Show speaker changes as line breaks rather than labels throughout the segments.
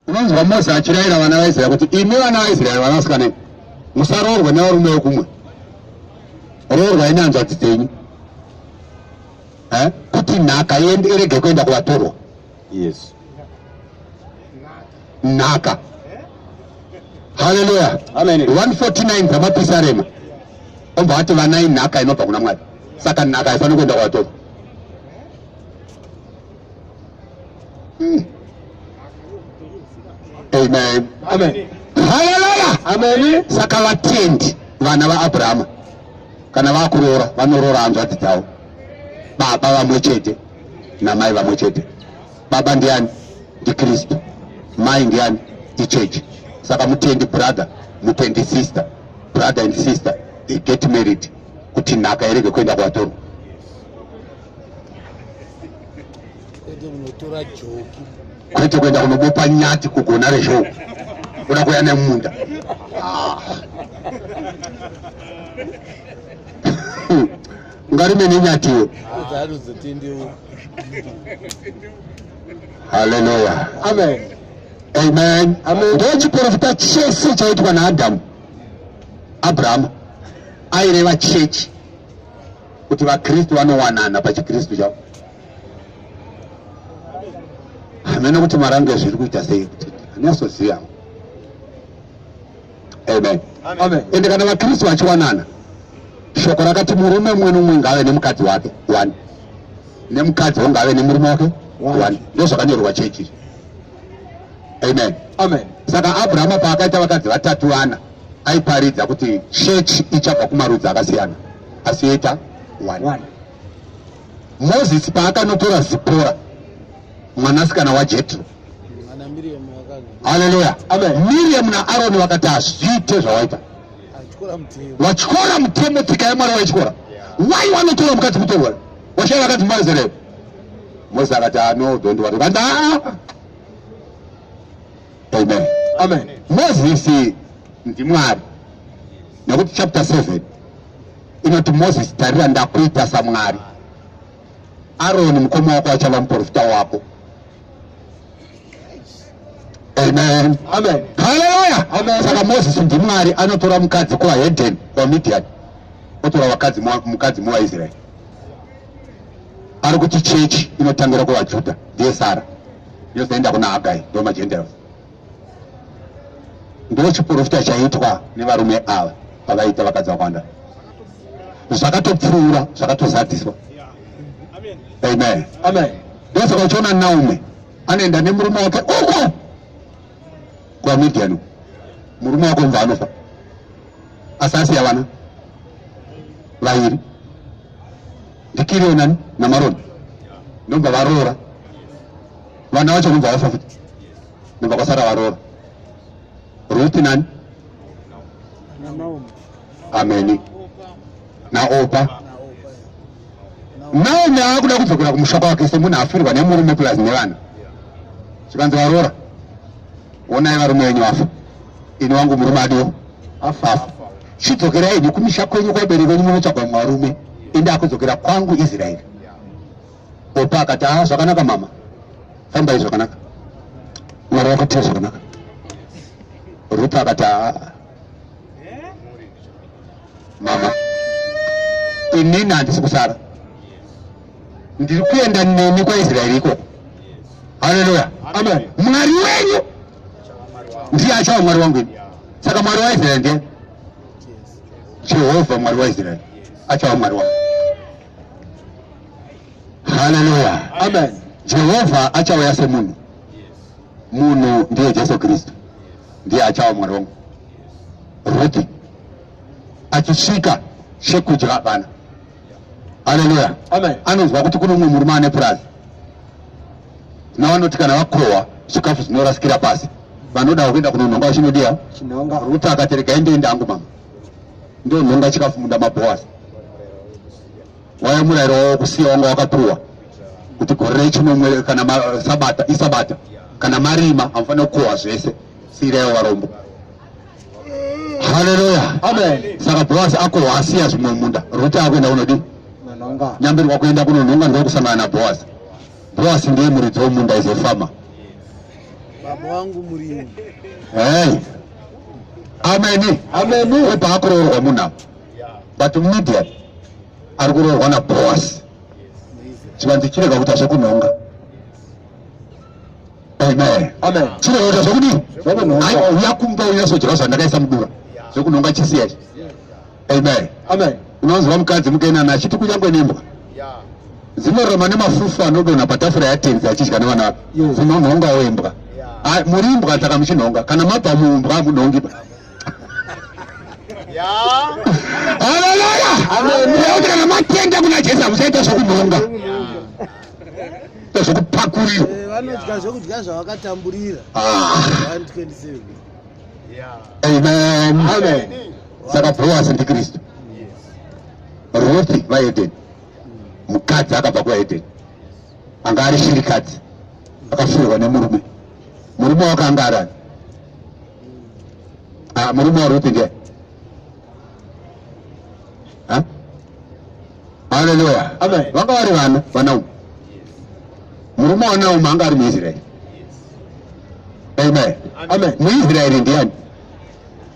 Unonzwa Mose achirayira vana vaIsraeri kuti imi vana vaIsraeri vanasikana musaroorwe nevarume vekumwe, roorwai nehanzvadzi dzenyu eh? kuti nhaka yende irege kuenda kuvatorwa. Yes, nhaka. Haleluya, amen.
149
dzamapisarema obva ati vanai nhaka inobva kuna Mwari, saka nhaka haifaniri kuenda kuvatorwa. Hmm. Amen. Amen.
Hallelujah.
Amen. Saka
vatendi
vana vaAbrahama kana vakuroora vanoroora hanzvadzi dzavo baba vamwe chete namai vamwe chete baba ndiani ndikristu mai ndiani ichechi saka mutendi brother mutendi sister brother and sister they get married kuti nhaka irege kuenda kwatorwa kwete kuenda kunobopa nyati kugona rezhou kuda kuya nemunda ah. ungarime nenyatiwo haleluya
amen
amen ndochiporofita chese chaitwa naadhamu abrahamu aireva chechi kuti vakristu vanowanana pachikristu chavo hamene kuti marange zviri kuita sei kuti anyasoziva amen ende kana
vakristu
vachiwanana shoko rakati murume mumwe nomumwe ngaave nemukadzi wake one nemukadzi wo ngaave nemurume wake one ndozvakanyorwa chechi amen amen
saka abrahama
paakaita vakadzi vatatu vana aiparidza kuti chechi ichabva kumarudzi akasiyana asi yoita one one moses paakanotora zipora mwanasikana wajetro haleluya miriam
naaroni
vakati hazviite zvawaita watyora mutemo tsika yamwari waityora wai wanotora mukadzi mutorwere washaya vakati mbazereyo mose akati ano don't worry vanda amen amen
moses
ndimwari nekuti chapter 7 inoti moses tarira ndakuita samwari aroni mukoma wako achava muprofita wako amen amen
haleluya amen
saka moses
ndimwari
anotora mukadzi kuvaheden vamidian otora vakadzi mukadzi muvaisraeri ari kuti chechi inotangira kuvajuda ndiye sara yozoenda kuna hagai ndomagentiles ndiwo chiporofita chaitwa nevarume ava pavaita vakadzi vakawanda zvakatopfuura zvakatozadziswa amen amen
ndosaka uchiona
naume anoenda nemurume wake uko kwamidianu murume wako mva anofa asi asiya vana vairi ndikirionani namaroni ndobva varoora vana vacho kunzi havafa futi nobva kwasara varoora ruti nani ameni naopa naomi akuda kudzokera kumusha kwake semunhu afirirwa nemurume plus nevana chikanzi varoora onai varume venyu vafa ini wangu murume adiwo afafa chidzokera ini kumisha kwenyu kwabereki venyu munotsvagwa mwarume ende akudzokera kwangu israeri Popa akati haa ah, zvakanaka mama, fambai zvakanaka, mwari vakuitira zvakanaka. Ruth akati haa ah, mama, inini handisi kusara, ndiri kuenda nemi kwaIsraeri ikoko. Haleluya, amen.
Mwari wenyu
ndiye achava mwari wangu ini. Saka mwari waIsraeri ndiye Jehovha, mwari waIsraeri achava mwari wangu. Haleluya. Amen.
Jehovha achauya
semunhu. Munhu ndiye Jesu Kristu, ndiye achava mwari wangu. Ruti achisvika chekudya vana. Haleluya. Amen. Anonzwa
kuti kune umwe
murume ane purazi navanoti kana vakohwa zvikafu zvinorasikira pasi vanoda kuenda kunonhonga vachinodiya ruti
akatereka ende
ende angu mama ndonhonga chikafu munda mabhowa waya murayiro wawo kusiya wanga wakapuwa kuti gore rechinomwe kana sabata isabata kana marima amufanira kukohwa zvese siirayo varombo haleluya saka bhoasi
akohwa
asiya zvimwe munda ruti akuenda kunodii nyambirwa
kuenda
kunonhonga ndokusangana nabhoasi bhoasi ndiye muridzi womunda izofama baba
wangu murimu hey.
ameni ameni opa akuroorwa munhu apa but media ari kuroorwa naboas chivanzi chirega kuita zvekunhonga amen amen chirega kuita zvekudii aiuya kumba uya sojerosa ndakaisa mudura zvekunhonga chisiyachi Amen. Amen. Unonzwa mukadzi mukenana achiti kunyangwe nembwa dzinoroma nemafufu anodonha patafura yatenzi achidya nevana vake dzinonhonga wembwa muri imbwa saka muchinhonga kana mabva muumbwa hamunhongi ba haleluya kuti kana matenda kuna jesu hamusaita zvokunhonga zvokupakurira eh, vanodya zvokudya
zvavakatamburira ah.
amen amen saka bhoasi ndikristu ruthi vaedeni mukadzi akabva kuedeni anga ari shirikadzi akafirwa nemurume murume wake anga arani ah, murume waruthi ndiye haleluya vanga vari vana vanauma murume wanauma anga ari muisraeri amen muisraeri ndiani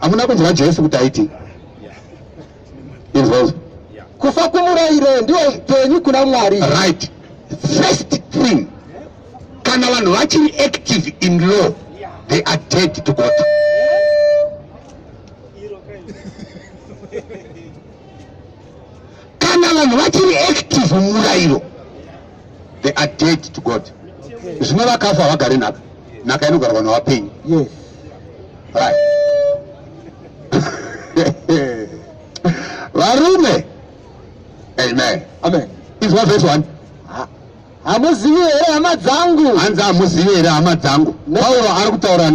hamuna kunzwa jesu kuti aiti inzwazvo kufa kumurayiro ndiwo upenyu kuna mwari right first thing kana vanhu vachiri active in law they are dead to god kana vanhu vachiri active murayiro they are dead to god zvino vakafa havagari nhaka nhaka inogarwa navapenyu yes.
right.
varume amen amen izwa verse 1
hamuzivi here hama dzangu hanzi hamuzivi here
hama dzangu pauro ari kutaura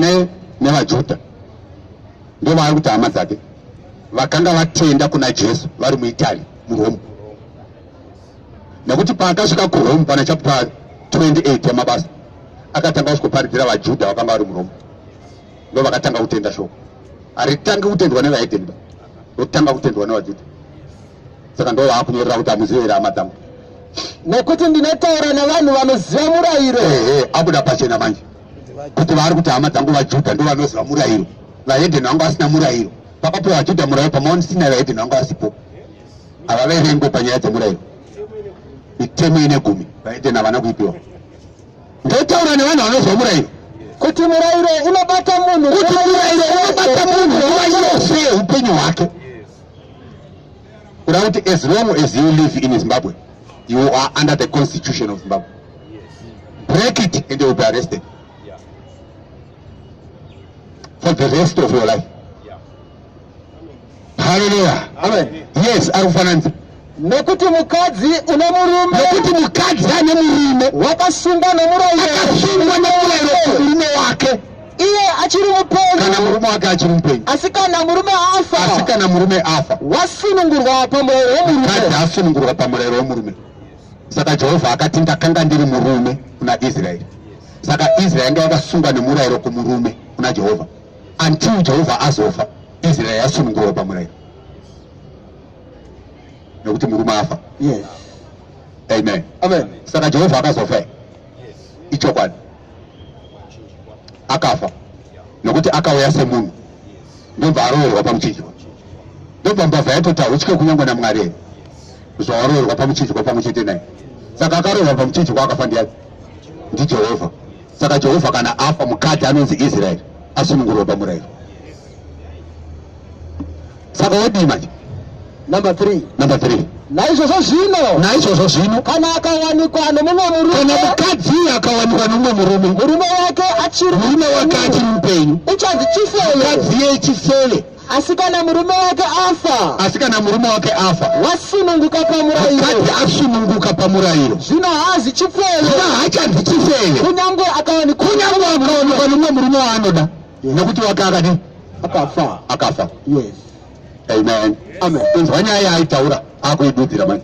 nevajuda ndo vaari kuti hama dzake vakanga vatenda kuna jesu vari muitaly murome nekuti paakasvika kurome pana chapter 28 yamabasa akatanga kusvikoparidzira vajudha vakanga vari murome ndo vakatanga kutenda shoko haritangi kutendwa nevaedeniba rotanga kutendwa nevajudha saka ndo vaakunyorera kuti amuzive here hama dzangu nekuti
ndinotaura nevanhu vanoziva murayiro ehe abuda pachena
manje kuti vaari kuti hama dzangu vajudha ndo vanoziva murayiro vahedheni vangu vasina murayiro pakapiwa vajudha murayiro pamaonisina vahedheni vangu vasipo ava vaivengwe panyaya dzemurairo mitemo ine gumi vaiden havana kuipiwa ndotaura nevanhu vanozwa murairo kuti murairo
unobata munhu kuti murairo
unobata munhu nguva yose upenyu hwake kuda kuti as long as you live in zimbabwe you are under the constitution of zimbabwe break it and you will be arrested for the rest of your life Hallelujah. Amen. Yes,
ari kufananidza
nokuti
mukadzi une murume nokuti mukadzi
ane murume wakasungwa nomurayiro
akasungwa nomurayiro
kumurume wake iye achiri
mupenyu kana murume wake achiri
mupenyu asi kana murume
afa asi kana murume afa
wasunungurwa
pamurayiro wemurume mukadzi asunungurwa
pamurayiro wemurume saka jehovha akati ndakanga ndiri murume kuna israeri saka israeri yanga yakasungwa nemurayiro kumurume kuna jehovha until jehovha azofa israel yasunungurwa pamurayiro nekuti murume afa yes.
amen
amen saka jehovha akazofa yes. ichokwadi akafa nekuti akauya semunhu ndobva aroverwa pamuchinjwa ndobva mbavha yatota uchike kunyangwa namwari here zvawaroverwa pamuchinjwa pamwe chete naye saka akaroverwa pamuchinjwa akafa ndiyani ndijehovha Saka Jehovha kana afa mukadzi anonzi Israeri asunungurwa pamurayiro. Saka wodii manje? Number 3.
Number 3. Naizvozvo zvino.
Naizvozvo zvino. Kana akawanikwa
nomumwe murume. Kana mukadzi
akawanikwa nomumwe murume. Murume wake
achiri. Murume
wake
achiri
mupenyu.
Uchanzi
chifeve. Mukadzi
ye chifeve. asi kana murume wake afa asi kana murume wake
afa wasununguka
pamurayiro akati asununguka
pamurayiro zvino haazi chifeve
zvino haachanzi chifeve
kunyange akawanikwa
kunyange akawanikwa nomumwe
murume waanoda nekuti wake akadi akafa akafa yes
amen
amen inzwa
nyaya yaitaura
akuidudzira manje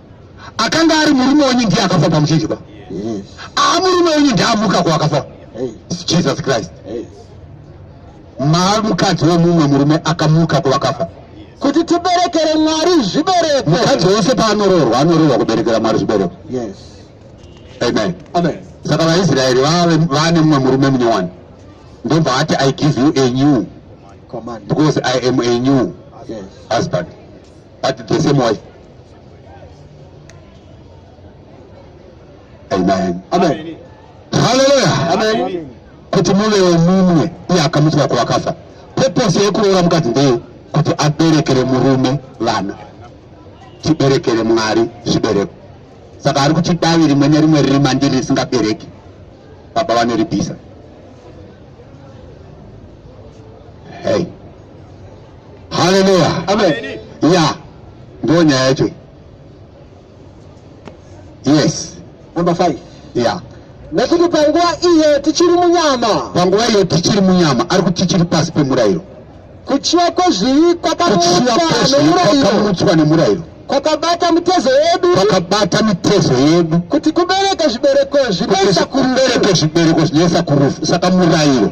akanga ari murume wenyu ndiye akafa pamuchidyiba aa murume wenyu ndiye amuka kuakafa jesus christ mukadzi wemumwe murume akamuka kuvakafa kuti tiberekere
mwari zvibereko mukadzi wese paanoroorwa
anoroorwa kuberekera mwari zvibereko
amen saka vaisraeri
vane mumwe murume munyowani ndobva ati i give you a new because i am a new husband but the same way amen amen
haleluya
amen
kuti muve
wemumwe iye akamutswa kuvakafa purpose yekuroora mukadzi ndeye kuti aberekere murume vana tiberekere mwari zvibereko saka ari kuti davi rimwe nerimwe riri mandiri risingabereki baba vanoribisa hey Hallelujah. Amen. Yeah. Ndio nyaya yake. Yes. Number 5.
Yeah.
Nekuti panguva
iye tichiri munyama. Panguva iye tichiri munyama ari kuti tichiri pasi pemurayiro. Kuchiwa kwezvivi kwakamutswa
nemurayiro. Kwakabata mitezo
yedu. Kwakabata mitezo yedu. Kuti kubereke zvibereko zvinoisa kurufu. Kubereke zvibereko
zvinoisa kurufu. Saka murayiro.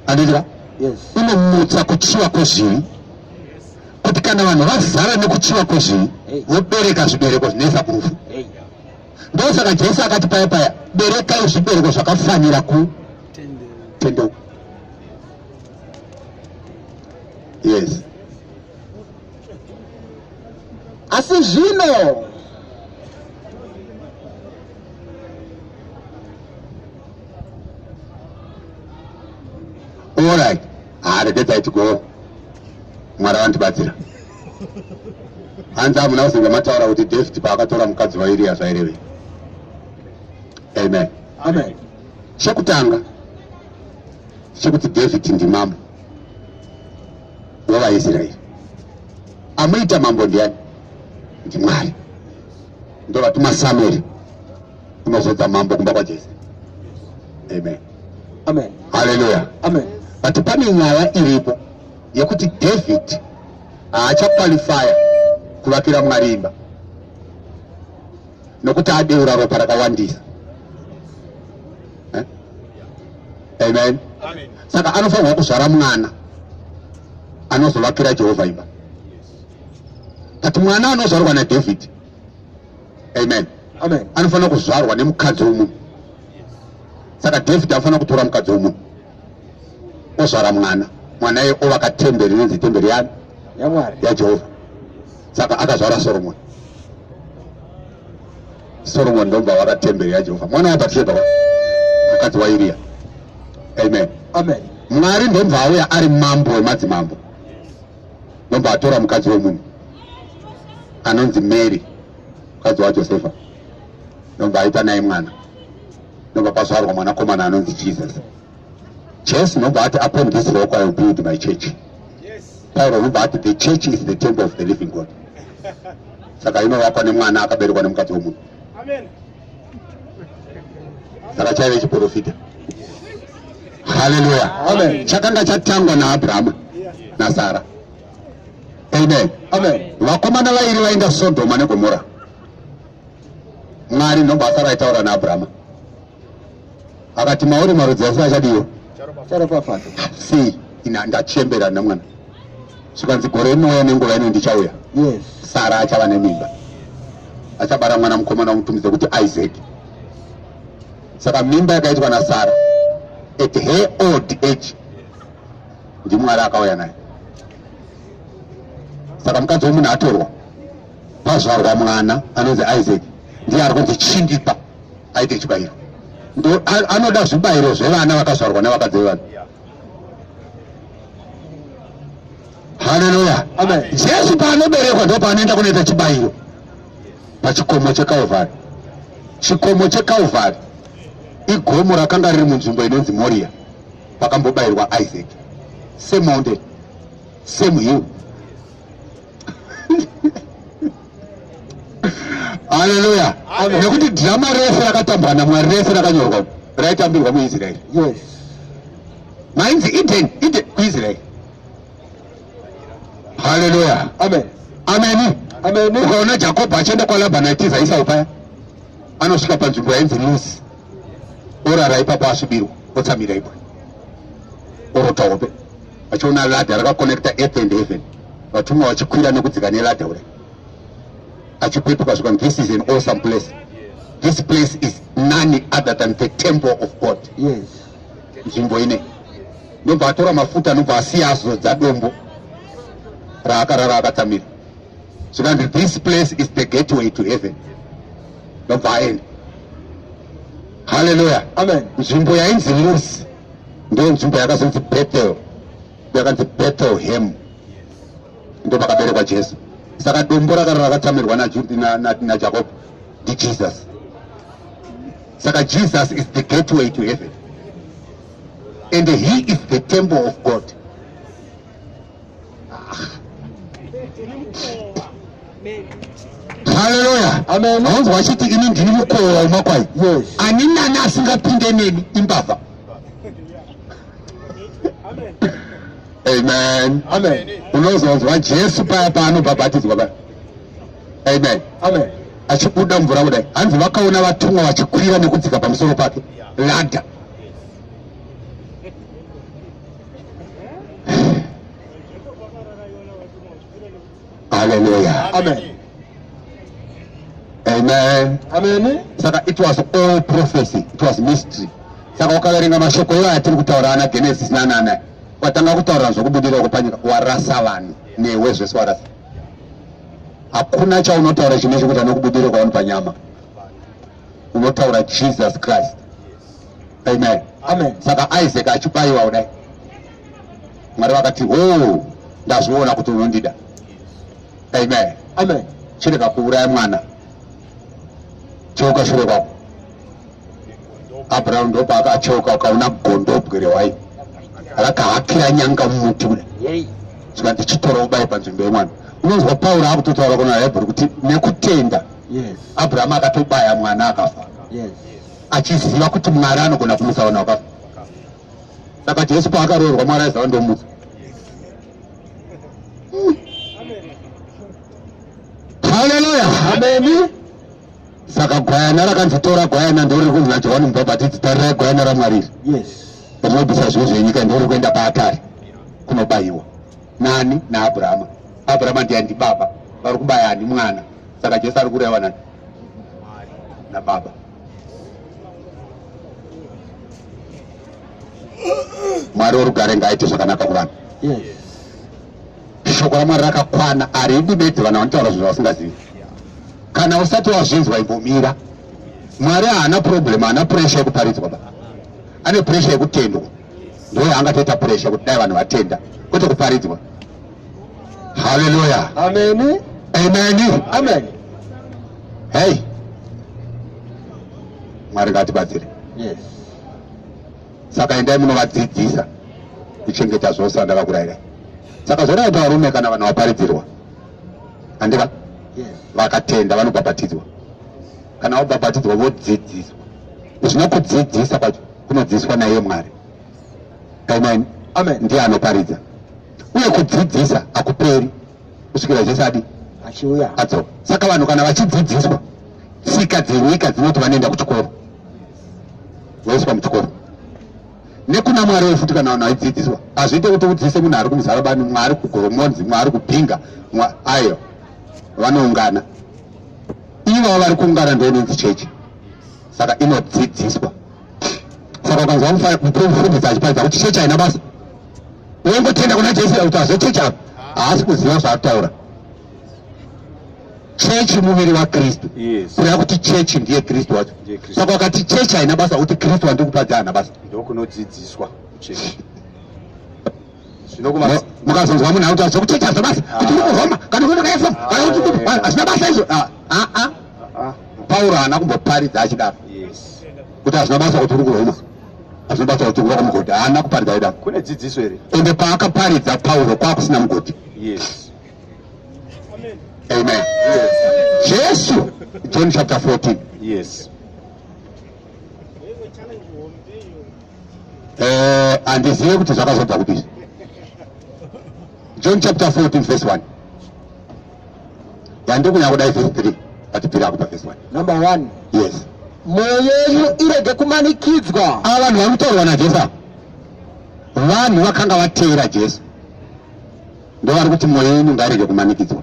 andizira unomutsa kuchiva kwezvivi kuti kana vanhu vazara nekuchiva kwezvivi vobereka zvibereko zvinoisa kurufu ndosaka jesu akati paya paya berekai zvibereko zvakafanira kutendeuka yes
asi zvino
Alright. Ah, regetai tigowo. Mwari vandibatsira. Hanzi hamuna kuzinga mataura kuti David paakatora mukadzi waIria zvaireve. Amen. Amen.
Chekutanga
chekuti David ndimambo wevaIsraeri. Amuita mambo ndiani? Ndimwari. Ndovatuma Samueri. unozodza mambo kumba kwaJesu. Amen.
Amen. Hallelujah.
Amen. But
pane nyaya
iripo yekuti David haachakwalifaya kuvakira Mwari imba nokuti adeura ropa rakawandisa. Eh? Amen. Amen. Saka anofanirwa kuzvara mwana anozovakira Jehovha imba. But mwana anozvarwa naDavid amen amen anofanira kuzvarwa nemukadzi wemunhu saka david anofanira kutora mukadzi wemunhu ozvara mwana mwana iye ovaka temberi inonzi temberi yani yamwari yajehovha saka akazvara soromoni soromoni ndomva waka temberi yajehovha mwana wabatsheba mukadzi wairiya amen amen
mwari ndomva
auya ari mambo wemadzimambo nobva atora mukadzi wemunhu anonzi mary mukadzi wajosefa nobva aita naye mwana nobva pazvarwa mwanakomana anonzi jesus jesu nobva ati upon this rock i will build my church pauro nobva ati the church is the temple of the living god saka inovakwa nemwana akaberekwa nemukadzi wemunhu saka chaive chiprofita haleluya chakanga chatangwa naabrahama nasara amen
vakomana vairi
vainda sodhoma negomora mwari ndobasa raitaura naabrahama akati mauri marudzi ese achadiwa sei ndachembera namwana zvikanzi gore inouya nenguva ino ndichauya yes. sara achava nemimba achabara mwana mukomana wamutumidza kuti isaac saka mimba yakaitwa nasara at her old age ndimwari akauya naye saka mukadzi wemunhu atorwa pazvarwa mwana anonzi isaac ndiye ari kunzi chindipa aite chibayiro anoda zvibayiro zvevana vakazvarwa nevakadzi vevanhu haleluya amen jesu
paanoberekwa
ndo paanoenda kunoita chibayiro pachikomo chekalvari chikomo chekalvari igomo rakanga riri munzvimbo inonzi moriya pakambobayirwa isaac same mountain same hill haleluya nekuti dhirama rese rakatambwa namwari rese rakanyorwa raitambirwa muisraeri mainzi eden eden kuisraeri haleluya amen
ameni
ameni ukaona
jakobho achienda
kwalabhani aitiza isau paya anosvika panzvimbo yainzi lusi orara ipapo asvibirwa otsamira ipo orota hope achiona ladha rakakonekta earth and heaven vatumwa vachikwira nekudzika neladha ure achipepuka zvika this is an awesome place this place is none other than the temple of god yes
nzvimbo
ine ndobva atora mafuta anobva asiya azodza dombo raakarara akatsamira zvikanzi this place is the gateway to heaven ndobva aenda haleluya amen nzvimbo
yainzi
lusi ndiyo nzvimbo yakazonzi bethel yakanzi bethel hem ndo pakaberekwa jesu saka dombo rakaro rakatamirwa najakob ndijesus saka jesus is the gateway to heaven and he is the temple of god haleluya aunzi wachiti
ini ndini
mukowa wemakwai ani
nani
asingapinde neni imbavha amen amen unozonzwa
jesu
paya paanobhabhatidzwa paya amen amen
achibuda mvura
kudai hanzi vakaona vatumwa vachikwira nekudzika pamusoro pake ladha Hallelujah. Amen. Amen. Amen. Saka
it was
all prophecy. It was mystery. Saka wakaverenga mashoko iwayo atiri kutaura ana Genesis nanana watanga kutaura zvokubudira kupanyika warasa vanhu newe zvese warasa. Hakuna chaunotaura chine chekuti anokubudira kwaunopanyama. unotaura jesus christ amen amen saka
isaac achibayiwa
kudai mwari vakati ho oh, ndazviona kuti unondida amen amen
chirega kuuraya
mwana choka shure kwako abraham ndopa akachoka ukaona gondobwe rewai rakahakira nyanga mumuti kuda saka ndichitora ubayi panzvimbo yemwana unonzwa pauro akutotaura kuna hebhuru kuti nekutenda yes. abrahamu akatobaya mwana akafa yes. achiziva kuti mwari anogona kumutsa vanhu vakafa saka jesu paakaroorwa mwari aiziva ndomutsa haleluya ameni
saka
gwayana rakanzi tora gwayana ndoriri kunzi najohani mubhabhatidzi tarirai gwayana ramwariri yes. rinobvisa zvivi zvenyika ndoriri kuenda paatari kunobayiwa nani naabrahama abrahama ndiani ndibaba vari kubaya ani mwana saka jesu ari kureva nani nababa mwari worugare ngaaite zvakanaka kuvanhu shoko ramwari rakakwana aridi bedzi vanhu vanotaura zvinhu zvasingazivi kana usati wazvinzwa imbomira mwari haana problem haana pressure yekuparidzwa ba ane pressure yekutendwa ndoyo angatoita pressure kuti dai vanhu vatenda kwete kuparidzwa Hallelujah. Amen. Amen. Amen. Hey. Mwari ngatibatsire. Yes. Saka endai munovadzidzisa kuchengeta zvose vandakakuraira. Saka zvakaita varume kana vanhu vaparidzirwa. Andika? Yes. Vakatenda vanobhabhatidzwa. Kana vabhabhatidzwa vodzidziswa. Zvino kudzidzisa kwacho kunodzidziswa naiye Mwari. Amen. Amen. Ndiye
anoparidza.
uye kudzidzisa hakuperi kusvikira jesu adi achiuya adzoka
saka vanhu
kana vachidzidziswa tsika dzenyika dzinoti vanoenda kuchikoro voiswa muchikoro nekuna mwari we futi kana vanhu vaidzidziswa hazviite kuti udzidzise munhu ari kumuzarabani mwari kugoromonzi mwari kubhinga ayo vanoungana ivavo vari kuungana ndoinonzi chechi saka inodzidziswa saka ukanzwa mufundisi achiparidza kuti chechi haina basa wongotenda kuna jesu kuti azochechi apo haasi kuziva zvaataura chechi muviri wakristu kureva kuti
chechi ndiye
kristu wacho saka wakati chechi haina basa kuti kristu wandiri kupadza haana basa ndokunodzidziswa
chechi
mukazonzwa munhu akuti zvekuchechi hazvina basa ah. kuti uri kuroma kana kuti ndakaefa ah, kana kuti hazvina basa izvo ah, pauro haana kumboparidza achidaro
kuti hazvina basa
kuti uri kuroma hazvina basa kuti uri mugodhi haana kuparidza aida kune dzidziso here
ende paakaparidza
pauro kwakusina mugodhi
yes
amen yes. jesu john chapter 14 yes eh andizive kuti zvakazobva kupi john chapter 14 verse 1 yandiri kunyanya kudai vhesi three but piri akupa vhesi one number one
yes
mwoyo yenyu
irege kumanikidzwa ava vanhu vari kutaurwa
najesu ava vanhu vakanga vateera jesu ndovari kuti mwoyo yenyu ngairege kumanikidzwa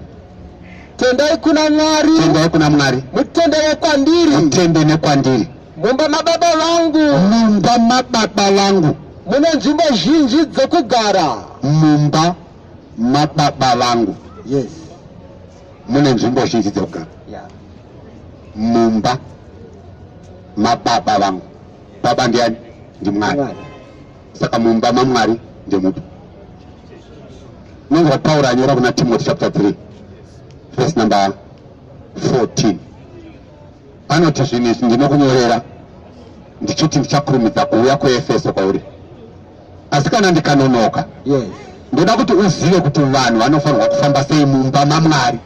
tendai
kuna mwari tendai kuna mwari
mutende wekwandiri
mutende nekwandiri
mumba mababa
vangu mumba mababa
vangu mune nzvimbo
zhinji dzokugara mumba
mababa vangu yes. mune nzvimbo zhinji dzekugara yeah. mumba mababa vangu baba ndiani ndimwari saka mumba mamwari ndemupi nonzwa pauro anyora kuna timoti chapter 3 verse number 14 anoti zvinhu izvi ndinokunyorera ndichiti ndichakurumidza kuuya kuefeso kwauri asi kana ndikanonoka yes.
ndoda kuti
uzive kuti vanhu vanofanirwa kufamba sei mumba mamwari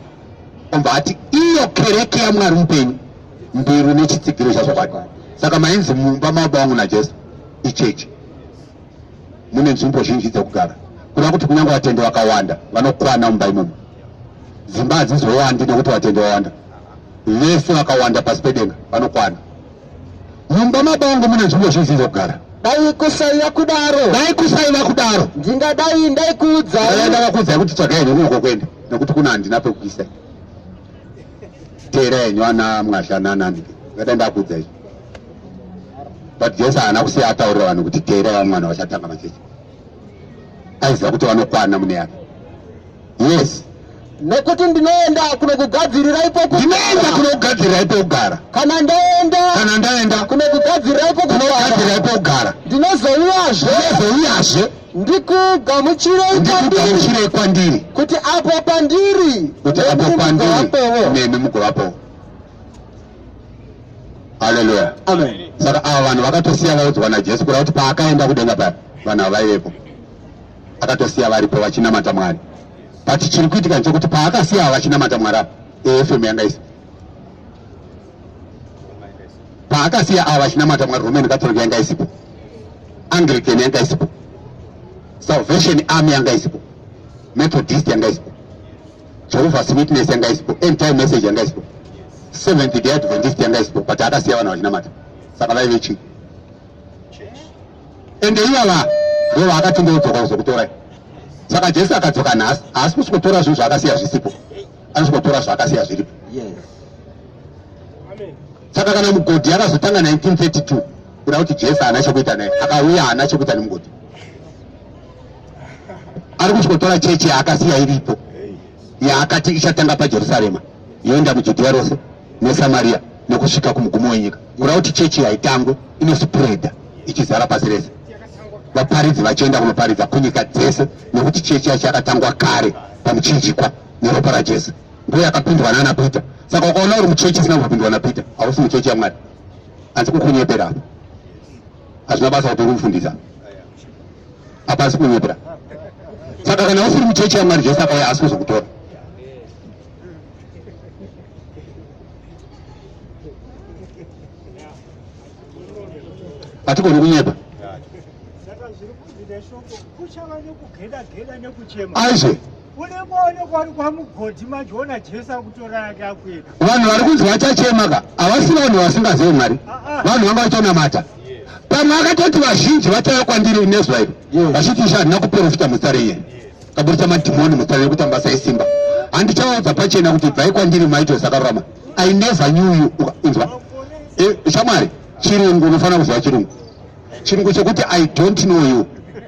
obva ati iyo kereke yamwari mupenyu mbiru nechitsigiro chazvokwadi saka mainzi mumba mababa vangu najesu ichechi mune nzvimbo zhinji dzekugara kuda kuti kunyange vatendi vakawanda vanokwana mumba imomo dzimba hadzizowandi nekuti vatendi vawanda vese vakawanda pasi pedenga vanokwana mumba mabangu mune nzvimbo zhinji dzekugara dai kusaiva
kudaro dai kusaiva kudaro
ndingadai
ndaikuudzai ndakakuudzai kuti tsvagai
henyu kunoko kwenda nekuti kuna handina pekuisa teera henyu ana mwazhananani ngadai ndakuudzai but jesu haana kusiya ataurira vanhu kuti teera vamwana vachatanga machechi aiziva kuti vanokwana mune yake yes nekuti
ndinoenda kunokugadzirira ipo ndinoenda kunokugadzirira
ipo kugara kana ndaenda
kana ndaenda kunokugadzirira ipo kunokugadzirira ipo
kugara ndinozouyazve ndinozouyazve
ndikugamuchirei ndikugamuchirei kwandiri kuti
apo
pandiri kuti apo pandiri
nemi mugovapowo haleluya saka
ava vanhu
vakatosiya vaudzwa najesu kuda kuti paakaenda kudenga paya vanhu ava vaivepo akatosiya varipo vachinamata mwari but chiri kuitika ndechokuti paakasiya ava vachinamata mwari apa efm yanga isi paakasiya ava vachinamata mwari roman catholic yanga isipo anglican yanga isipo salvation army yanga isipo methodist yanga isipo Jehovah's Witness yanga isipo, End Time Message yanga isipo, Seventh Day Adventist yanga isipo, but akasiya vanhu vachinamata. Saka vaive chii? Ende ivava ndivo vaakati ndodzoka kuzokutorai. Saka Jesu akadzoka nhasi, haasi kusvikotora zvinhu zvaakasiya zvisipo, anosvikotora zvaakasiya zviripo. Saka kana mugodhi akazotanga 1932 kuda kuti Jesu haana chekuita naye, akauya haana chekuita nemugodhi. ari kuchikotora chechi yaakasiya iripo yaakati ichatanga pajerusarema yoenda mujudhiya rose nesamariya nekusvika kumugumo wenyika kura kuti chechi yaitangwe inospreda ichizara pasi rese vaparidzi vachienda kunoparidza kunyika dzese nekuti chechi yacho yakatangwa kare pamuchinjikwa neropa rajesu ndiyo yakapindwa nana peter saka ukaona uri muchechi isina kupindwa napita hausi muchechi yamwari hanzi kukunyepera apa hazvina basa kuti ukumufundisa apa asi kunyepera saka kana usiri muchechi yamwari jesu akauya asi kuzokutora hatigoni kunyepa aizve vanhu vari kunzi vachachema ka havasi vanhu vasingazivi mwari ah, ah. vanhu vanga vachanamata pamwe akatoti vazhinji vachaya kwandiri nezwa iri vachiti isha handina kuprofita muzita renye kaburitsa madhimoni muzita renye kuti ambasa esimba handichaudza pachena kuti bvai kwandiri maito zakarurama i never knew you inzwa eh, shamwari chirungu unofanira kuziva chirungu chirungu chekuti i don't know you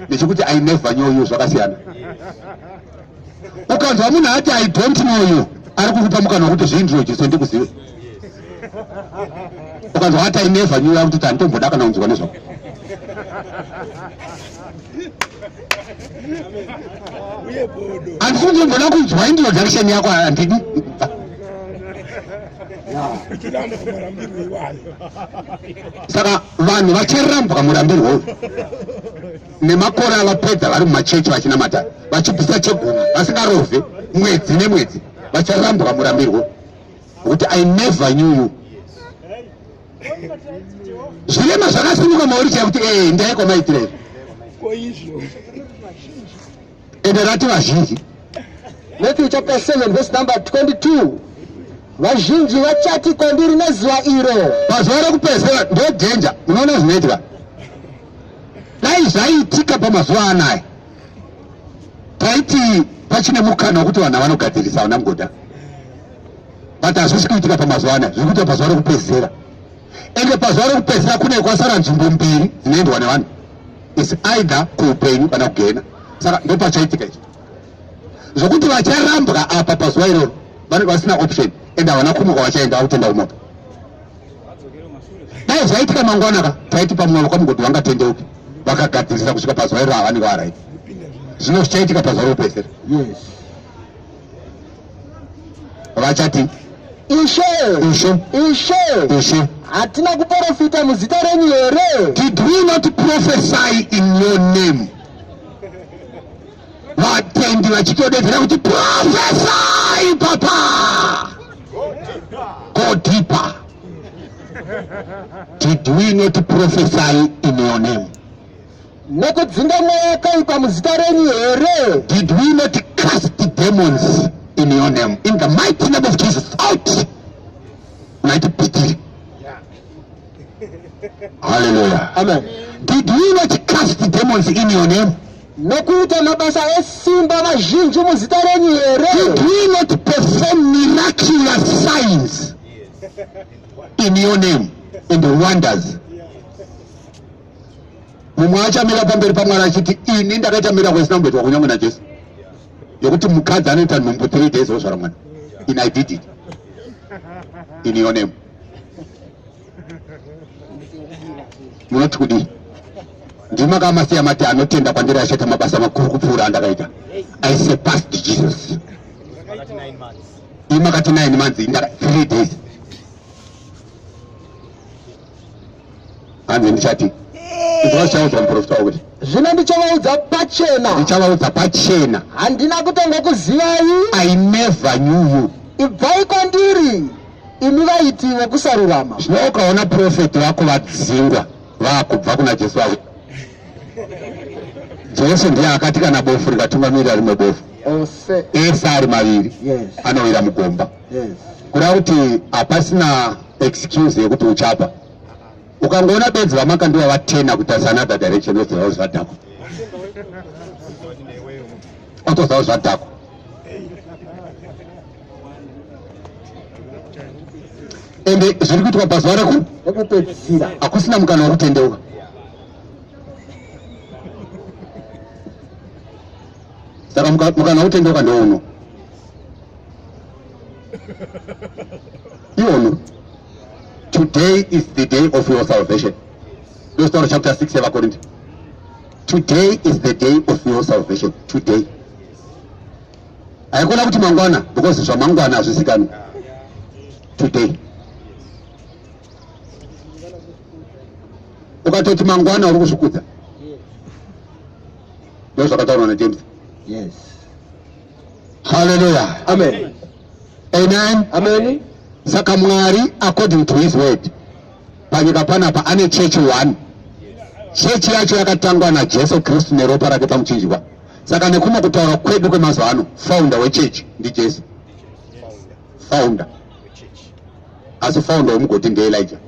nechekuti i never know you zvakasiyana ukanzwa munhu ati i don't know you ari kukupa mukana wekuti zvii ndiro jesu ndikuzive ukanzwa ati i never new yakuti kuti handitomboda kana kunzwa nezvako handifungi mboda kunzwa introduction yako handidi saka vanhu vacharambwa murambirwo uyu nemakore avapedza vari mumachechi vachinamata vachibvisa chegumi vasingarove mwedzi nemwedzi vacharambwa murambirwo kuti i never knew you zvirema zvakasimuka mauri chaya kuti ee eh, ndaiko maitire izvo ende rati vazhinji matthew
chapter 7 verse number 22 vazhinji vachati kwandiri nezuva iro pazuva rekupedzisira
ndodhenja unoona zvinoitika dai zvaiitika pamazuva anaya taiti pachine mukana wekuti vanhu vanogadzirisa vana mugoda but hazvisi kuitika pamazuva anaya zviri kuita pazuva rekupedzisira ende pazuva rekupedzisira kune kwasara nzvimbo mbiri dzinoendwa nevanhu is either kuupenyu kana kugena saka ndopachaitika ichi zvokuti vacharambwa apa pazuva iroro vanenge vasina option ende havana kumuka vachaenda vakutenda kumoto dai zvaitika mangwana ka taiti pamwe vava kwamugoti vangatendeuki vakagadzirisa kusvika pazuva iroro havanenge varaiti zvino zvichaitika pazuva rekupedzisira yes. vachati ishe ishe ishe ishe hatina
kuprofita muzita renyu here did we not
prophesy in your name vatendi vachitodedzera kuti prophesy papa go deeper did we not prophesy in your name
nekudzinga mweya yakaipa muzita renyu here did we not
cast the demons in your name in the mighty name of jesus out unaiti pitiri haleluya amen did
we not
cast the demons in your name nokuita
mabasa esimba mazhinji muzita renyu here did we not
perform miraculous signs in your name in the wonders mumwe achamira pamberi pamwari achiti ini ndakaita mirakwe isina kumboitwa kunyange najesu yekuti mukadzi anoita nhumbu three days ozvara mwana in i did it in your name munoti kudii ndimakamasiya mati anotenda kwandiri achaita mabasa makuru kupfuura andakaita i surpassed jesus imakati nine months three days hanzi ndichati izwa zvichaudzwa muprofita wakuti zvino ndichavaudza
pachena ndichavaudza pachena
handina kutanga
kuzivai i never
knew you ibvai kwandiri
imi vaiti vekusarurama zvino ukaona
profeti vako vadzingwa vakubva kuna jesu vavo jesu ndiye akati kana bofu rikatungamirira rimwe bofu ese ari maviri anowira mugomba kureva kuti hapasina excuse yekuti uchapa ukangoona benzi vamaka ndiva vatena kutarisa another direction otozawo zvadhakwa otozawo zvadhakwa ende zviri kuitwa pazuva rekupedzisira hakusina mukana wekutendeuka saka mukana wekutendeuka ndouno iwonu today is the day of your salvation ndostaura chapter 6 yevakorinti today is the day of your salvation today haikona kuti mangwana because zvamangwana hazvisikani today ukatoti mangwana uri kuzvikudza ndozvakataurwa najames yes
Haleluya.
Amen.
Amen.
Amen.
Saka Mwari
according to his word panyika panapa ane chechi one. Chechi yacho yakatangwa naJesu Kristu neropa rake pamuchinjwa. Saka nekumwe kutaura kwedu kwemazuva ano, founder wechechi ndiJesu. Founder. Asi founder wemugoti ndeElijah.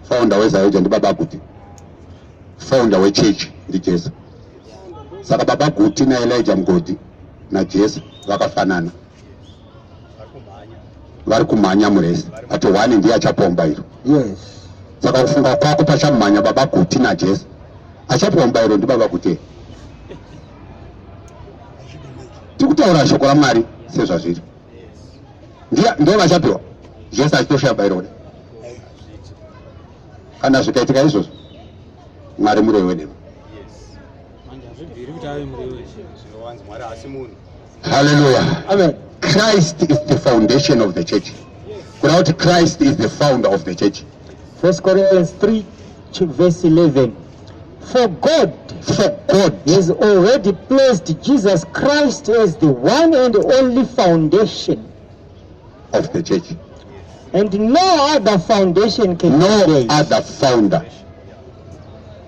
Founder weZayoja ndibaba kuti. Founder wechechi ndiJesu. saka baba guti naelija mugodi najesu vakafanana vari kumhanya murese ati one ndiye achapomba iro
saka kufunga
kwako pachamhanya baba guti najesu achapomba iro ndibaba kuti tikutaura shoko ramwari sezvazviri ndiye vachapiwa jesu achitoshaya bairo kuda kana zvikaitika izvozvo mwari murei wedemo haleluya
christ is the
foundation of the church kuna kuti christ is the founder of the church first corinthians
3 verse 11 For God, for God has already placed Jesus Christ as the one and only foundation
of the church. And no
other foundation can no be laid. other founder.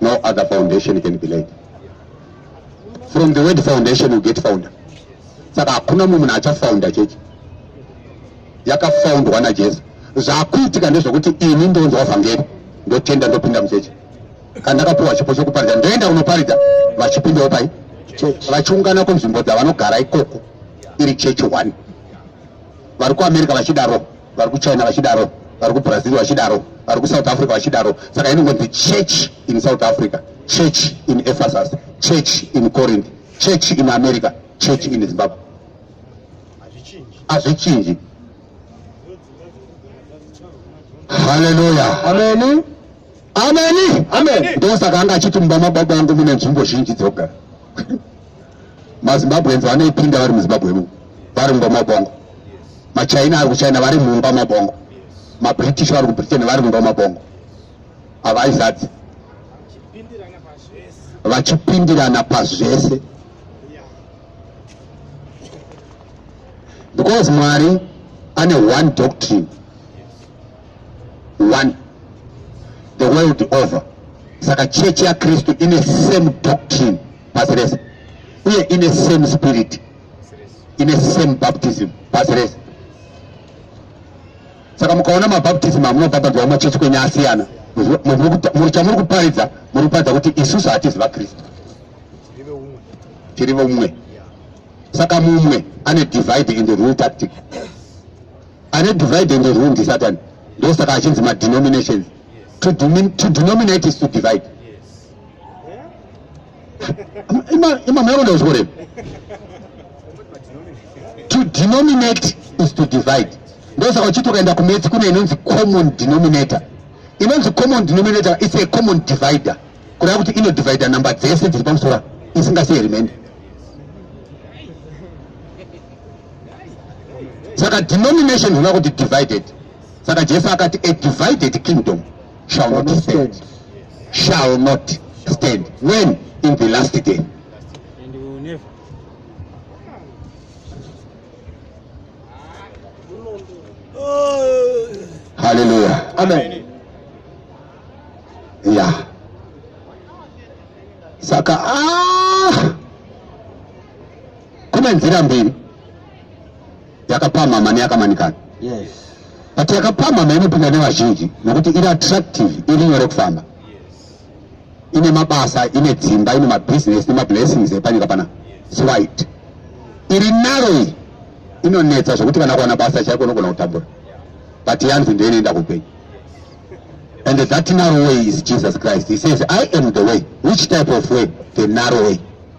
No other foundation can be laid. From the word foundation you get founder. Saka hakuna mumwe munhu achafounda chechi. Yakafoundwa naJesu. Zvakuitika ndezvekuti ini ndonzwa vhangeri ndotenda ndopinda muchechi. Kana ndakapiwa chipo chokuparidza ndoenda unoparidza vachipindawo pai? Vachiungana kunzvimbo dzavanogara ikoko iri chechi one. vari kuamerica vachidaro vari kuchina vachidaro vari kubrazil vachidaro vari kusouth africa vachidaro saka inongonzi church in south africa church in ephesus church in corinth church in america church in zimbabwe hazvichinji haleluya ameni
ameni
amen ndosaka
anga achiti mumba
mababa angu mune nzvimbo zhinji dzokugara mazimbabweans vanoipinda vari muzimbabwe mu vari mumba mabongo machina ari kuchina vari mumba mabongo mabritish vari kubritain vari mumba mabongo havaizadzi vachipindirana pazvese because mwari ane one doctrine one the world over saka church ya kristu ine same doctrine pasi rese uye ine same spirit ine same baptism pasi rese saka mukaona mabaptism amunobhabhadzwa machechi kwenye asiyana chamuri kuparidza muri kuparidza kuti isusu hatizi vakristu tiri vomumwe saka mumwe ane divide in the rule tactic ane divide and rule ndisatan ndosaka achinzi madenominations to, to denominate is to divide imamaikonda kuchikorevi to denominate is to divide ndosaka uchiti ukaenda kumetsi kune inonzi common denominator inonzi common denominator its a common divider kureva kuti inodivida number dzese dziri pamusora isingasei remainder saka denomination huna kuti divided saka jesu akati a divided kingdom shall not stand shall not stand when in the last day haleluya amen ya saka ah! Kune nzira mbiri yakapamhama neyakamanikana. Yes.
But
yakapamhama inopinda nevazhinji nokuti iri attractive, iri nyore kufamba. Ine mabasa, ine dzimba, ine mabusiness nemablessings epanyika pana. It's right. Iri narrow inonetsa zvekuti kana kuwana basa chaiko unogona kutambura. But yanzi ndiyo inoenda kupenyu. And that narrow way is Jesus Christ. He says, I am the way. Which type of way? The narrow way.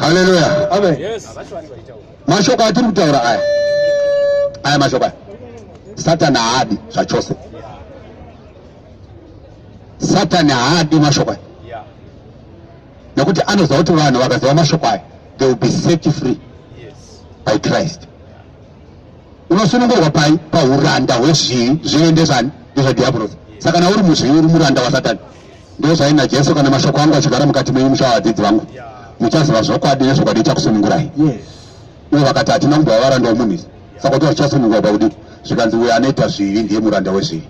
Haleluya. Amen. Yes.
Mashoko
atiri kutaura aya. Aya mashoko aya. Satani haadi zvachose. Satani haadi mashoko aya. Nekuti anoziva kuti vanhu vakaziva mashoko aya they will be set free by Christ. Unosunungurwa pai pahuranda hwezvivi zvive ndezvani ndezvadhiabhorosi. Saka kana uri muzvivi uri muranda waSatani. Ndozvaina Jesu kana mashoko angu achigara mukati menyu muchava vadzidzi vangu. Muchaziva zvokwadi nezvokwadi ichakusunungurai.
Uye vakati
hatina kumbova varanda womunhu isi. Saka kuti vachichasunungurwa pakudi zvikanzi uyo anoita zvivi ndiye muranda wezvivi.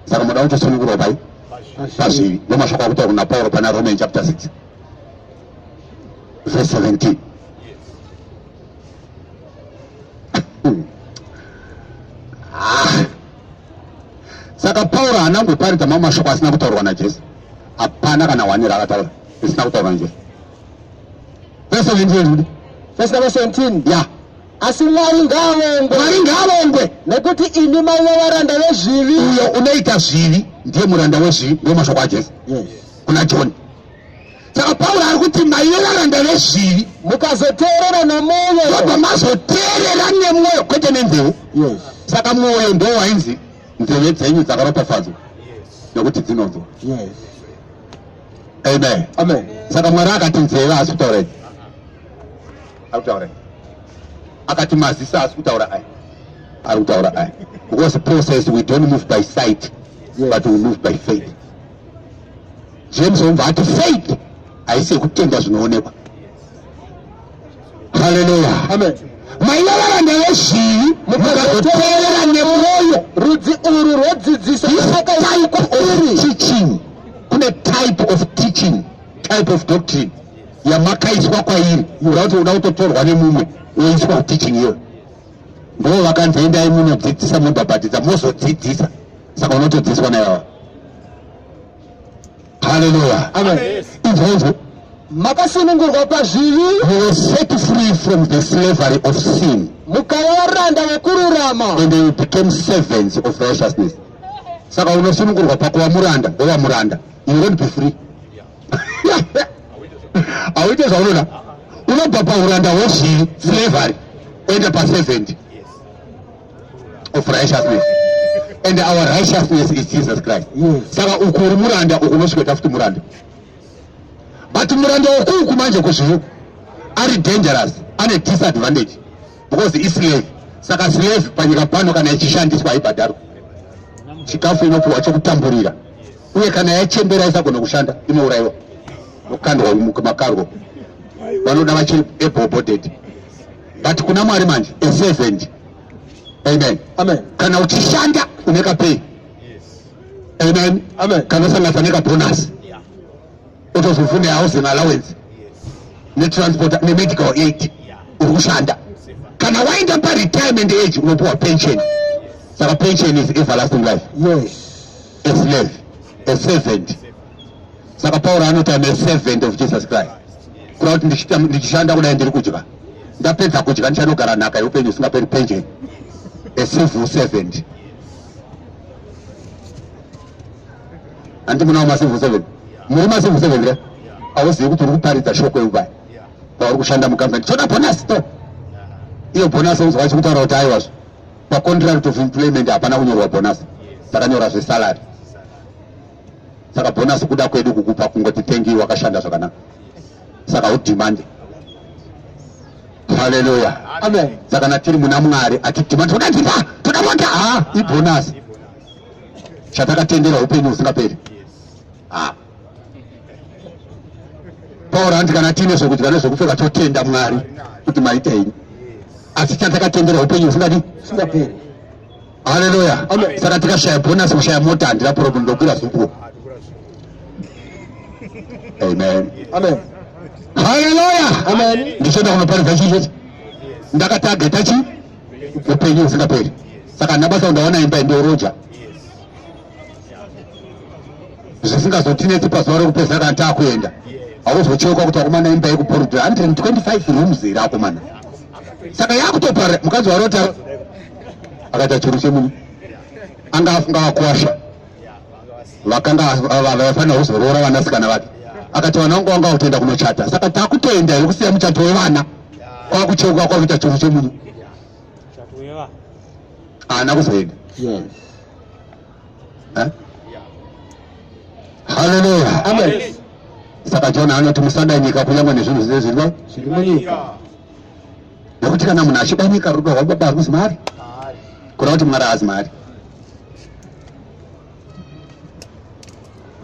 Saka munoda kutosunungurwa pai? Pazvivi. Ndomashoko akuita kuna Pauro pana Roman chapter 6 verse 17. Hmm. Ah. saka pauro haana kumboparidza mamwe mashoko asina kutaurwa najesu hapana kana hwani raakataura risina kutaurwa najesu vese vindieudi vese nava
17 ya asi
mwari
ngaavongwe mwari ngaavongwe
nekuti
imi maiva varanda vezvivi uyo unoita
zvivi ndiye muranda wezvivi ndiwo mashoko ajesu yes. kuna
joni
saka pauro ari kuti maive varanda vezvivi mukazoteerera
nemwoyo obva mazoteerera
nemwoyo kwete nenzeve saka
mwoyo ndo
wainzi nzeve dzenyu dzakaropafadzwa nekuti dzinonzwa amen
saka mwari akati
nzeve asi kutaurei ari kutaura akati maziso asi kutaura aya ari kutaura aya because process we don't move by sight yes. but we move
by faith
James Omva ati faith haisi yekutenda zvinoonekwa. Haleluya. Amen.
Maivava
ndeveshii mukazoteerera nemwoyo rudzi uru
rwodzidzisa akaitwa iri
teaching kune type of teaching type of doctrine yamakaiswa kwairi uda kuti uda kutotorwa nemumwe woiswa kuteaching iyoyo ndoo vakanzi endai munodzidzisa mobhabhatidza mozodzidzisa saka unotedzeswa naivawa haleluya
izvozvo
makasunungurwa
pazvivi you were set
free from the slavery of sin mukava varanda
vekururama and you became
servants of righteousness saka unosunungurwa pakuva muranda wova muranda you won't be free hauite zvaunoda unobva pauranda hwezvivi slavery oenda paservant of righteousness and our righteousness is jesus christ saka uku uri
muranda
uku unosvikaita futi muranda but muranda wokuuku manje kuzviuku ari dangerous ane disadvantage because islave saka slave panyika pano kana ichishandiswa haibhadharwa chikafu inopiwa chokutamburira uye kana yachembera isagona kushanda inourayiwa nokukandwa makarwo vanoda vachiri able bodied but kuna mwari manje a servant amen amen kana
uchishanda
une kapay yes. amen amen kana
usangatsa nekabonus
yeah. otozofune housing allowance yes. netransport nemedical aid yeah. uri kushanda kana waenda paretirement age unopiwa pension saka pension is everlasting life yes.
a slave,
a servant. Saka Pauro anoti I'm a servant of Jesus Christ. Kureva kuti ndichishanda kudai ndiri kudya. Ndapedza kudya ndichanogara nhaka yeupenyu usingaperi pension. A civil servant. Anti munawo macivil servant. Muri macivil servant here? Hauzivi kuti uri kuparidza shoko yeubai. Pauri kushanda mukambani. Choda bonus to. Iyo bonus unzwa chikutaura kuti aiwazvo. pacontract of employment hapana kunyorwa bonus takanyora zvesalary saka bonus kuda kwedu kukupa kungoti thank you wakashanda zvakanaka saka udimande haleluya amen saka
natiri muna
mwari atidimande toda ndipa toda bonda ha ibonus chatakatenderwa upenyu husingaperi ha taura hanzi kana tiine zvokudya nezvokupfeka totenda mwari kuti maita ini asi chandakatendera upenyu husingadi singaperi haleluya saka tikashaya
bhonasi
kushaya mota handina problem ndokura zvuku amen amen
haleluya
amen ndichoda
kunoparidza chichete
ndakataga tachi upenyu husingaperi saka ndabasa ndaona imba ndioroja zvisingazotinetsi pazuva rekupedza kana takuenda auzocheuka kuti akomana imba yekuporodhera 125 rooms here akomana saka yakutopara mukadzi warota akaita churu chemunhu anga afunga vakwasha vakanga vafanira kuzoroora vanasikana vake akati vana vangu vanga vakutoenda kunochata saka takutoenda here kusiya muchato wevana kwakucheuka kwakuita churu chemunhu haana kuzoenda
eh?
Haleluya. Amen.
Saka Jona
anoti musada nyika kunyangwe nezvinhu zvine zvirwa zviri
munyika.
Nekuti kana munhu achida nyika rudo rwababa haruzi mari. Kureva kuti mwari haazi mari.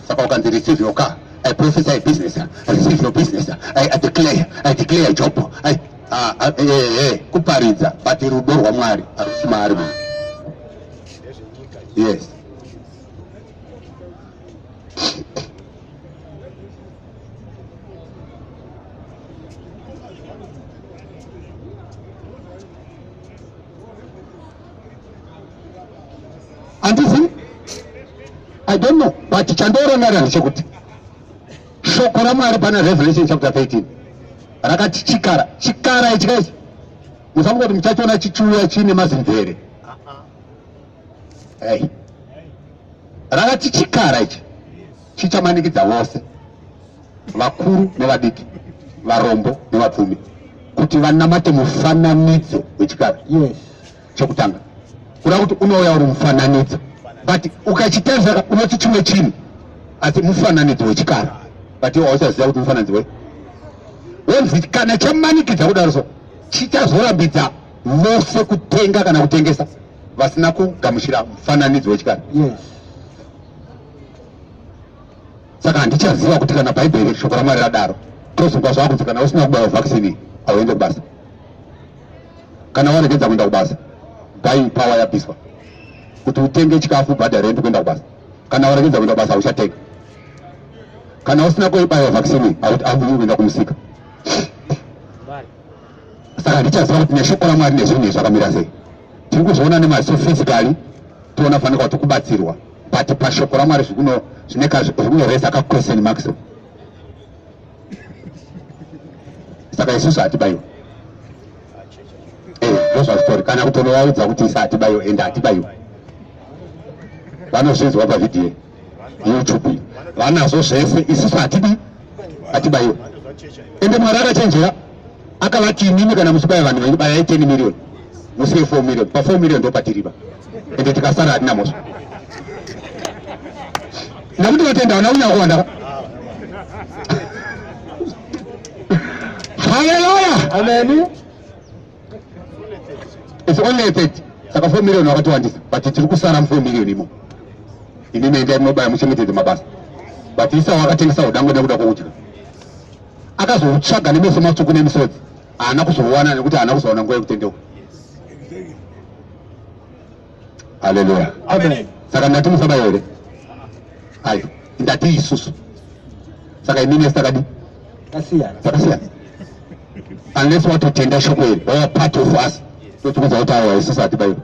Saka ukanzi receive your car, I prophesy a business, I receive your business, I, I declare, I declare job, I, ah, ah, eh, eh, eh, kuparidza but rudo rwaMwari harusi maari munhu. Yes. handizivi i don't know but chandoorangarira ndechekuti shoko ramwari pana revelation chapter 13 rakati chikara chikara ichi kaichi musafunga kuti muchachiona chichiuya chiine mazimvere ei uh-uh. rakati chikara ichi chichamanikidza vose vakuru nevadiki varombo nevapfumi kuti vanamate mufananidzo wechikara yes.
chekutanga
kuda kuti unouya uri mufananidzo but ukachitarisa unoti chimwe chinhu asi mufananidzo wechikara but iwo hauchaziva kuti mufananidzo wei wonzi kana chamanikidza kudaro so chichazorambidza vose kutenga kana kutengesa vasina kugamuchira mufananidzo wechikara yes. saka handichaziva kuti kana bhaibheri shoko ramwari radaro tozonga zvava kunzi kana usina kubaiwa vaccine hauende kubasa kana waregedza kuenda kubasa bai pawa yabviswa kuti utenge chikafu bhadha rendi kuenda kubasa kana waregedza kuenda kubasa hauchatenga kana usina kuibaiwa vaccine hauvii kuenda kumusika saka ndichaziva kuti neshoko ramwari nezvinhu izvakamira sei tiri kuzviona nemaziso physically toona fanika kuti kubatsirwa but pashoko ramwari zvikuno zvinoresa ka question mark so saka isusu hatibaiwa eh, ndozvazvitori kana kutonovaudza kuti isa hatibaiwa ende hatibaiwa vanozvinzwa pavhidhiyo youtube vanazvo zvese isusu hatidi hatibaiwa ende mwari akachenjera akavati imimi kana muchibaya vanhu venyu bayai 10 million musiye 4 million pa 4 million ndopatiriba ende tikasara hatina mhosva ndakuti vatenda vana unya kuwanda haleluya amen
it's
only 30 saka 4 million wakatiwandisa but tiri kusara mu 4 million imo imimi endai munobaya muchengetedze mabasa but isa wakatengesa udango nekuda kwokudya akazoutsvaga nemeso matsvuku nemisodzi haana kuzouwana nekuti haana kuzoona nguva yekutendeuka haleluya
saka ndati musaba
here ayo ndati isusu saka imine sakadi takasiyana unless watotenda shoko iri wava part of us totiudza kuti awa isusu hatibaiwa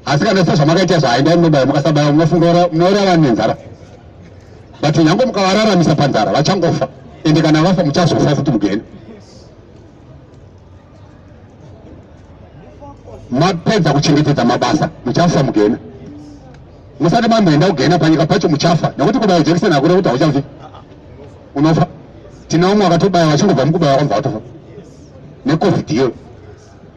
asi kana sezvamakaita izvo haindai munobaya mukasabaya munofunga munouraya vanhu nenzara but nyange mukavararamisa panzara vachangofa ende kana vafa muchazofa futi mugeni mapedza kuchengetedza mabasa muchafa mugena musati mamboenda kugena panyika pacho muchafa nekuti kubaya jekiseni hakure kuti hauchafi unofa tina umwe akatobaya vachingobva mukubaya kwamva watofa necovid iyo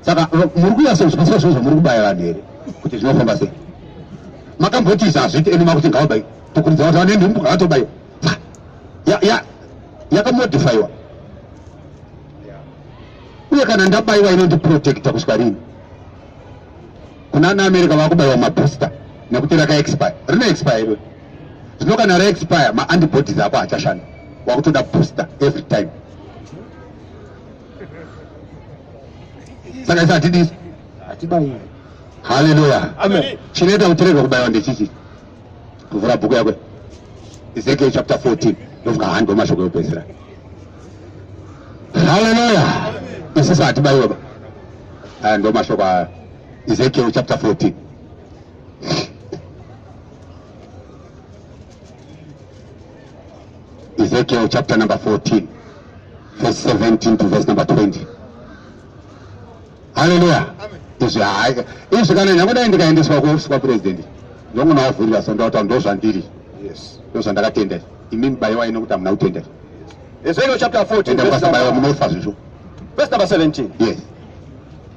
saka muri kuyasouswa zvinhu zvamuri kubaya vanhu here kuti zvinofamba sei makamboti izvi hazviiti ende makuti ngavabai tokuridza vati vane nhumbu ngavatobai yakamodifaiwa uye kana ndabaiwa inondiprotecta kusvika rini kuna ana america vakubaiwa mabooster nekuti rakaexpire rine expire iro zvino kana raexpire maantibodies ako hachashanda wakutoda booster every time saka isi hatidisi
hatibairi haleluya
chinoita
kuti rega kubaiwa
ndechichi kuvhura bhuku yakwe ezekiel chapter 14 ndofunga handi wemashoko yopedzisira haleluya isisi hatibaiwa ba aya ndo mashoko aya ezekiel chapter 14 Ezekiel chapter number 14 verse 17 to verse number 20. Hallelujah. Izvi hayi izvi kana ndakudai ndikaendeswa kuofisi kwapurezidendi ndongonawavhurira so ndauta ndozvandiri ndozvandakatendera imimi baiwa ino kuti hamuna kutendera Ezekiel
chapter 14
verse number
17. Yes.